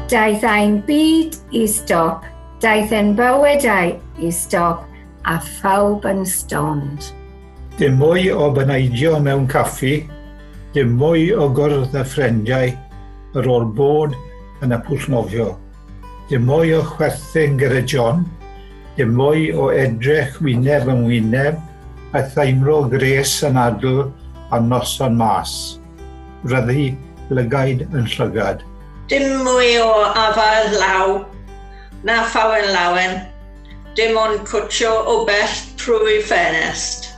Daeth ein byd i stop, daeth ein bywydau i stop, a phawb yn stond. Dim mwy o baneidio mewn caffi, dim mwy o gwrdd â ffrindiau ar ôl bod yn y pwll nofio. Dim mwy o chwerthin gyda John, dim mwy o edrych wyneb yn wyneb a theimlo gwres anadl ar noson mas. Ryddi lygaid yn llygad. Dim mwy o afael law na thawen lawen, dim ond cwtsio o bell trwy ffenest.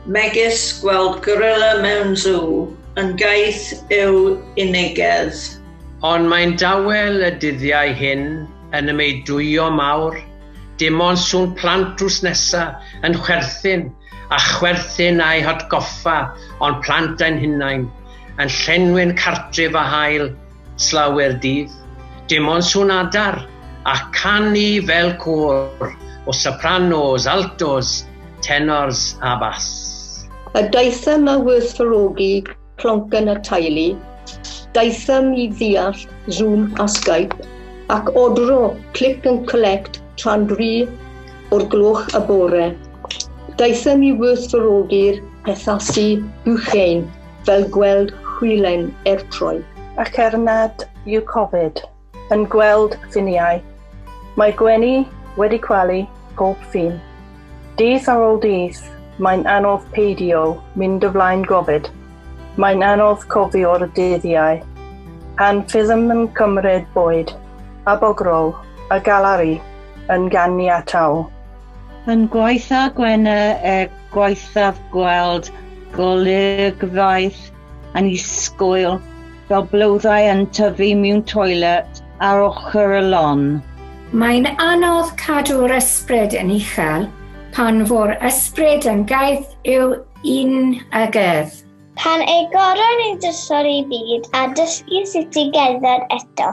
Megis gweld gorilla mewn sŵ yn gaeth yw unigedd. Ond mae'n dawel y dyddiau hyn yn y meudwyo mawr, dim ond sŵn plant drws nesa yn chwerthin a chwerthin a'i hatgoffa o'n plant ein hunain, yn llenwi'n cartref â haul slawer dydd. Dim ond sŵn adar a canu fel côr o sopranos, altos, tenors a bass. A daethom â werthfawrogi Plonc yn y teulu, daethom i ddeall Zoom a Skype ac ordro click and collect tra'n dri o'r gloch y bore. Daethom i werthfawrogi'r pethasu buchein fel gweld hwylen ertroi. Ac er nad yw Covid yn gweld ffiniau. Mae Gwenny wedi cwalu pob ffin. Dydd ar ôl dydd, mae'n anodd peidio mynd y flaen gofid. Mae'n anodd cofio'r dyddiau pan fyddem yn cymryd bwyd a bogrol a galari yn ganiataol. Yn gwaetha' Gwenna er gwaethaf gweld golygfeydd. Annisgwyl, fel blodau yn tyfu mewn toilet ar ochr y lon. Mae'n anodd cadw'r ysbryd yn uchel pan fo'r ysbryd yn gaeth yw un a gydd. Pan agoron ni drysor i byd a dysgu sut i gerdded eto,